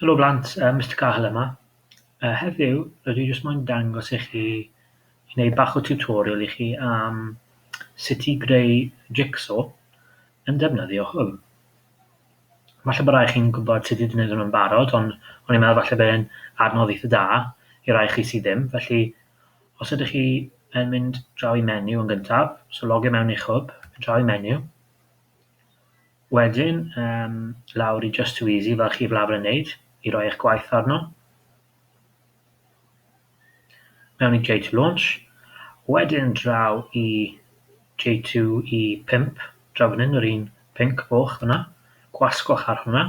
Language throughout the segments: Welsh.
Helo blant, yy Mister Cahill yma. Yy heddiw rydw i jyst moyn dangos i chi, neu bach o tutorial i chi am sut i greu jig-so yn defnyddio hwn. Falle bo' rai chi'n gwbod sut i gneud hwn yn barod ond o'n i'n meddwl falle bydd e'n adnodd eitha da i rai chi sy ddim, felly os ydych chi yn mynd draw i menyw yn gyntaf, so logio mewn i'ch hwb, draw i menyw, Wedyn yym lawr i Just Too Easy fel chi'f lafr yn neud i roi eich gwaith arno. Mewn i J2 Launch. Wedyn draw i J2 i 5, draw fan hyn yr un pinc foch fyna, gwasgwch ar hwnna.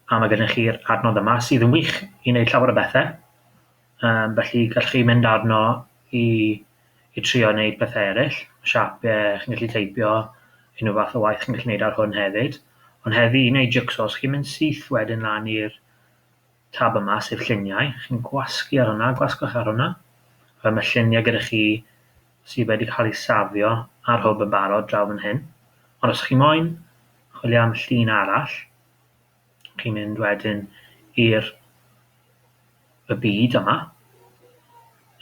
A mae gennych chi'r adnodd yma sydd yn wych i wneud llawer o bethau. Yym felly gallwch chi mynd arno i i trio wneud pethau eraill, siapiau, chi'n gallu teipio, unrhyw fath o waith chi'n gallu wneud ar hwn hefyd. Ond heddi, i wneud jigsaws, chi'n mynd syth wedyn lan i'r tab yma, sef lluniau, chi'n gwasgu ar hwnna, gwasgwch ar hwnna. Rhaid mae lluniau gyda chi sydd wedi cael ei safio ar hwb yn barod draw fan hyn. Ond os chi moyn chwilio am llun arall, chi'n mynd wedyn i'r y byd yma,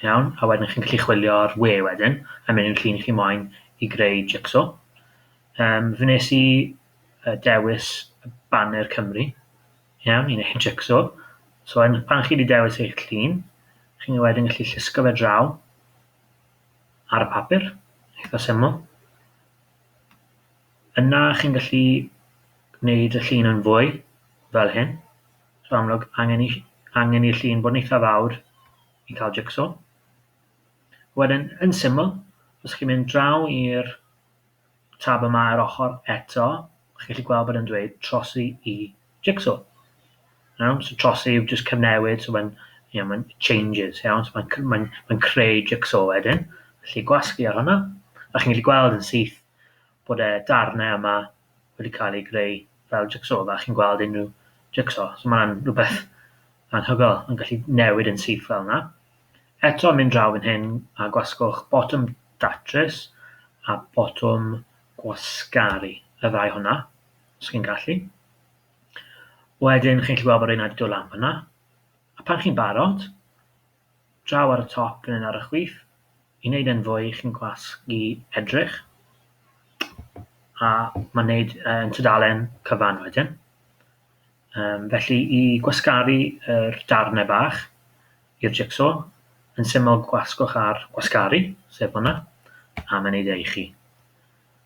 iawn, a wedyn chi'n gallu chwilio ar we wedyn, a mynd i'r llun chi moyn i greu jigsaw. Um, fe nes i uh, dewis banner Cymru, iawn, i wneud jigsaw. So yn, pan chi wedi dewis eich llun, chi'n wedyn gallu llusgo fe draw ar y papur, eitha syml. Yna chi'n gallu gwneud y llun yn fwy, fel hyn. So amlwg, angen i, angen i'r llun bod yn eitha fawr i cael jigsaw. Wedyn, yn syml, os chi'n mynd draw i'r tab yma ar ochr eto, chi'n gallu gweld bod yn dweud trosi i jigsaw. Iawn, so trosi yw just cyfnewid, so mae'n yeah, mae'n changes, iawn, so mae'n mae, mae creu jigsaw wedyn. Felly gwasgu ar hwnna, a chi'n gallu gweld yn syth bod y darnau yma wedi cael eu greu fel jigsaw, fel chi'n gweld unrhyw jigsaw. So mae'n rhywbeth anhygoel yn gallu newid yn syth fel yna. Eto mynd draw yn hyn a gwasgwch botwm datrys a botwm gwasgaru, y ddau hwnna, os chi'n gallu. Wedyn chi'n gallu gweld bod rhywun wedi dod lan fyna. A pan chi'n barod, draw ar y top yn un ar y chwith i wneud e'n fwy i chi'n gwasgu edrych a mae'n wneud yn tudalen cyfan wedyn. Um, felly i gwasgaru yr darnau bach i'r jigsaw, yn syml gwasgwch ar gwasgaru, sef hwnna, a mae'n ei ddeud chi.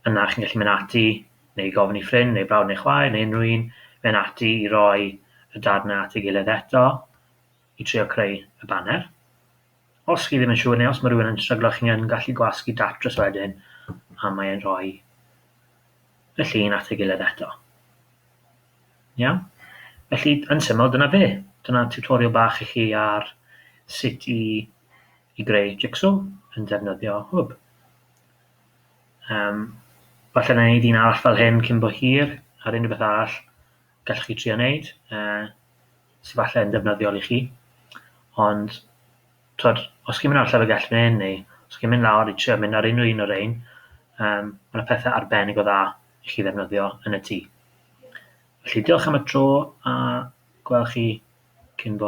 Yna chi'n gallu mynd ati, neu gofyn i ffrind, neu brawd neu chwaer, neu unrhyw un, mynd ati i roi y darnau at ei gilydd eto, i trio creu y baner. Os chi ddim yn siŵr neu os mae rhywun yn stryglo, chi'n yn gallu gwasgu datrys wedyn a mae e'n rhoi y llun at ei gilydd eto. Iawn? Felly, yn syml, dyna fe. Dyna tutorial bach i chi ar sut i, i greu jigsaw yn defnyddio hwb. Um, falle na wneud un arall fel hyn cyn bo hir, ar unrhyw beth arall. gallwch chi trio wneud, uh, sy'n falle yn ddefnyddiol i chi. Ond, twyd, os chi'n mynd ar llyfrgell fan hyn neu os chi'n mynd lawr i trio mynd ar unrhyw un o'r ein, um, mae yna pethau arbennig o dda i chi ddefnyddio yn y tŷ. Felly, diolch am y tro a gweld chi cyn bo